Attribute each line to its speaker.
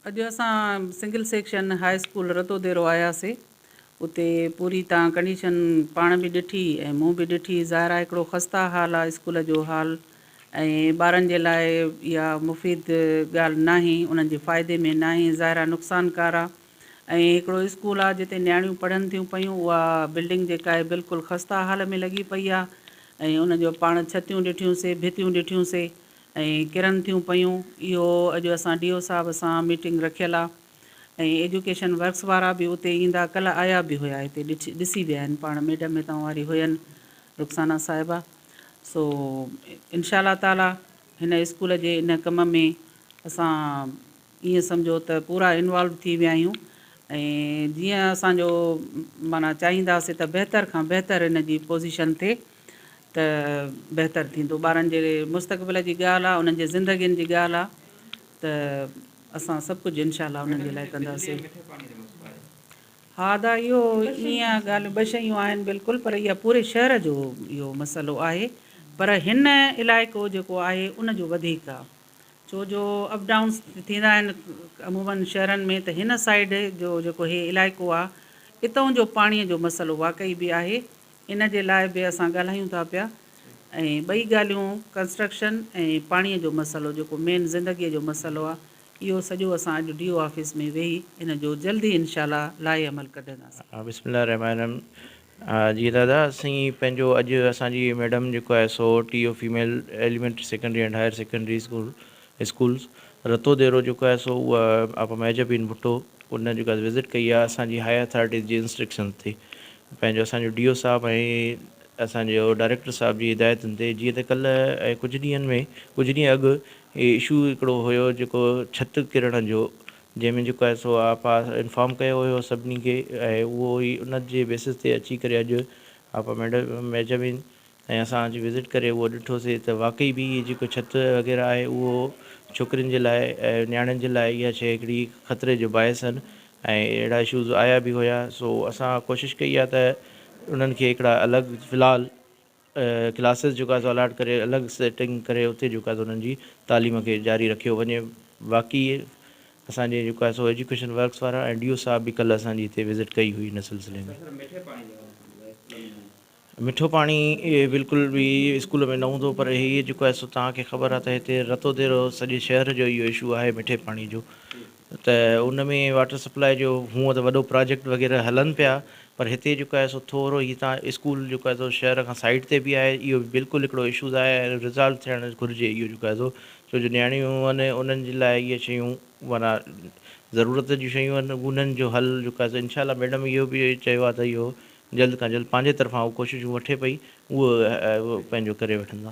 Speaker 1: اڄ اسان single section high school Ratodero آياسي اتي پوري تان ڪنڊيشن پاڻ به ڏٺي ۽ مون به ڏٺي ظاهر آ هڪڙو خسته حال آ اسڪول جو حال ۽ ٻارن جي لاء اها مفيد ڳالهه ناهي، انهن جي فائدي ۾ ناهي، ظاهر آهي نقصانڪار آ ۽ هڪڙو اسڪول آ جتي نياڻيون پڙهن ٿيون پيون اها بلڊنگ جيڪا آهي بلڪل خسته حال ۾ لڳي پئي آ ۽ ان جو پاڻ ڇتيون ڏٺيون سي ڀتيون ڏٺيون سي ۽ ڪرن ٿيون پيون اهو اڄ اسان ڊي او صاحب سان ميٽنگ رکيل آ ۽ ايجوڪيشن ورڪس وارا به اتي ايندا ڪلهه آيا به هيا هتي ڏسي ويا آهن پاڻ ميڊم هتان واري هين رخسانه صاحبه. سو انشاء الله تعالٰي هن اسڪول جي ان ڪم ۾ اسان ائين سمجهو ته پورا انوالو ٿي ويا آهيون ۽ جيئن اسان جو معنيٰ چاهينداسين ته بهتر کان بهتر ان جي پوزيشن ٿئي ته بهتر ٿيندو ٻارن جي مستقبل جي ڳالهه آهي انهن جي زندگين جي ڳالهه آهي ته اسان سڀ ڪجهه انشاء الله انهن جي لاء ڪنداسين ها ادا اهو ايئن ڳالهه ٻه شيون آهن بلڪل پر اها پوري شهر جو اهو مسئلو آهي پر هن علائقو جيڪو آهي ان جو وڌيڪ آ ڇو جو اپ ڊائونس ٿيندا آهن عموما شهرن ۾ ته هن سائيڊ جو جيڪو هي علائقو آ اتئون جو پاڻي جو مسئلو واقعي به آهي ان جي لاء به اسان ڳالهايون ٿا پيا ۽ ٻئي ڳالهيون ڪنسٽرڪشن ۽ پاڻي جو مسئلو جيڪو مين زندگي جو مسئلو آ اهو سڄو اسان اڄ ڊي او آفيس ۾ ويهي ان جو جلد ئي انشاء الله لائحه عمل ڪڍنداسين. بسم الله الرحمٰن الرحيم
Speaker 2: جي دادا اسين پنهنجو اڄ اسان جي ميڊم جيڪو آهي سو T O female elementary secondary and higher secondary school schools Ratodero جيڪو آهي سو اها آپا مهجه بين ڀٽو ان جيڪو وزٽ ڪئي آهي اسان جي هائي اٿارٽيز جي انسٽرڪشنز تي پنهنجو اسان جو ڊي او صاحب ۽ اسان جي ڊائريڪٽر صاحب جي هدايتن تي جيئن ته ڪلهه ۽ ڪجهه ڏينهن ۾ ڪجهه ڏينهن اڳ هي اشو هڪڙو هيو جيڪو ڇت ڪرڻ جو جنهن ۾ جيڪو آهي سو آپا انفارم ڪيو هيو سڀني کي ۽ اهو هي ان جي بيسس تي اچي ڪري اڄ آپا ميڊم ميجامين ۽ اسان اچي وزٽ ڪري اهو ڏٺوسي ته واقعي به هي جيڪو ڇت وغيره آهي اهو ڇوڪرين جي لاء ۽ نياڻين جي لاء اها شيء هڪڙي خطري جو باعث آهن ۽ اهڙا اشوز آيا به هيا سو اسان ڪوشش ڪئي آ ته انهن کي هڪڙا الڳ في الحال ڪلاسز جيڪو آ سو الاٽ ڪري الڳ سيٽنگ ڪري اتي جيڪو آ سو انهن جي تعليم کي جاري رکيو وڃي باقي اسان جي جيڪو آ سو ايجوڪيشن ورڪس وارا ۽ ڊي او صاحب به ڪلهه اسان جي هتي وزٽ ڪئي هئي ان سلسلي ۾ مٺو پاڻي بلڪل به اسڪول ۾ نه هوندو پر هي جيڪو آهي سو توهان کي خبر آهي ته هتي رتو ديرو سڄي شهر جو اهو اشو آهي مٺي پاڻي جو ته ان ۾ واٽر سپلاء جو هونء ته وڏو پراجيڪٽ وغيره هلن پيا پر هتي جيڪو آهي سو ٿورو هي تان اسڪول جيڪو آهي سو شهر کان سائيڊ تي به آهي اهو به بلڪل هڪڙو اشوز آهي ۽ ريزالو ٿيڻ گهرجي اهو جيڪو آهي سو ڇو جو نياڻيون آهن انهن جي لاء اهي شيون معنيٰ ضرورت جون شيون آهن انهن جو حل جيڪو آهي سو انشاء الله ميڊم اهو به چيو آهي ته اهو جلد کان جلد پنهنجي طرفان هو ڪوششون وٺي پئي اهو پنهنجو ڪري وٺندا.